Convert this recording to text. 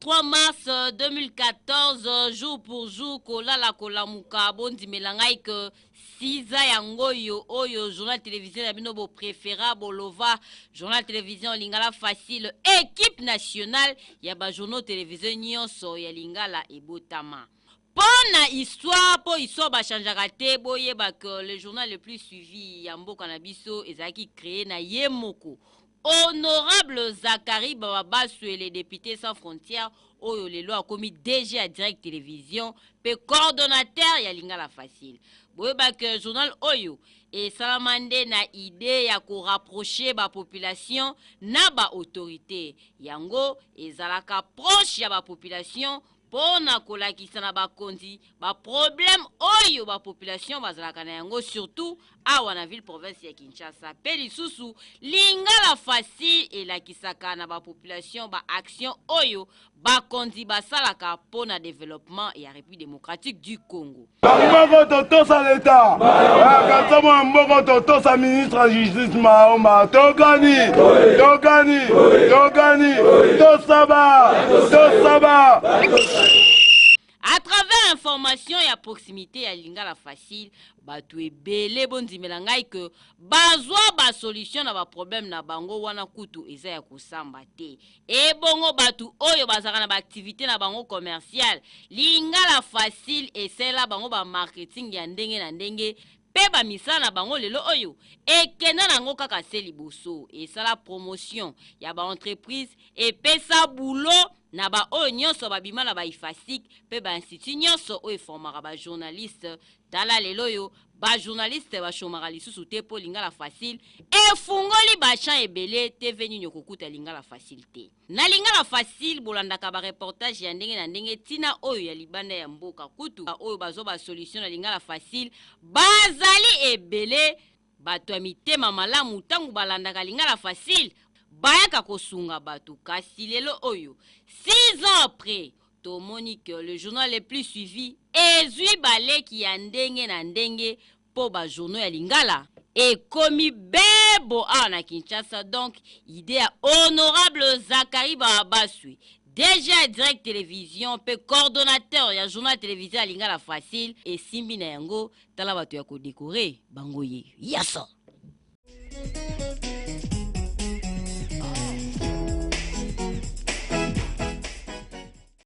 3 mars 2014 euh, jour pour jour kolala kolamuka bondimela ngai ke siza yango oyo oyo journal télévision ya bino boprefera bolova journal télévision lingala facile équipe nationale ya bajournaux télévision nyonso ya lingala ebotama Pona histoire po histoire ba changeaka te boyeba que le journal le plus suivi ya mboka na biso ezalaki cree na ye moko Honorable Zacharie Bababaswele depute sans frontières oyo lelo akomi DG ya Direct Television pe coordonnateur ya Lingala Facile. Boyeba que journal oyo esalama nde na idee ya ko rapprocher ba populations na ba autorites. Yango ezalaka proche ya ba populations mpo na kolakisa na bakonzi ba problème oyo ba population bazalaka na yango surtout awa na ville province ya Kinshasa mpe lisusu lingala facile elakisaka na ba population ba action oyo bakonzi basalaka mpo na developpement ya Republique democratique du Congo. mboko totosa leta kansamo ya mboko totosa ministre ya justice maomba tokani tokani tokani tosaba tosaba à travers information ya proximité ya lingala facile bato ebele bondimela ngai ke bazwa basolution na baproblème na bango wana kutu eza ya kosamba te Ebongo batu oyo bazalaka na ba activites na bango commerciales, lingala facile esalela bango ba marketing ya ndenge na ndenge pe ba misala na bango lelo oyo ekenda na yango kaka se liboso esala promotion ya ba entreprises, epesa boulot na ba oyo nionso babima na ba Ifasic pe ba instituts nionso oyo eformaka ba journalistes. Tala leloyo ba journaliste ba chomaka lisusu te po lingala facile efungoli ba champs ebele TV nini okokuta lingala facile te na lingala facile bolandaka ba reportage ya ndenge na ndenge tina oyo ya libanda ya mboka kutu ba oyo bazwa ba solution na lingala facile bazali ebele bato ya mitema malamu tango balandaka lingala facile bayaka kosunga bato kasi lelo oyo 6 ans après Tomoni que le journal le plus suivi ezwi ba leki ya ndenge na ndenge mpo ba journaux ya lingala ekomi bebo awa na Kinshasa donc idee ya honorable Zacharie Barabaswi, DG ya Direct Television mpe coordonnateur ya journal televise ya lingala Facile esimbi na yango tala bato ya ko decorer bango ye yasa.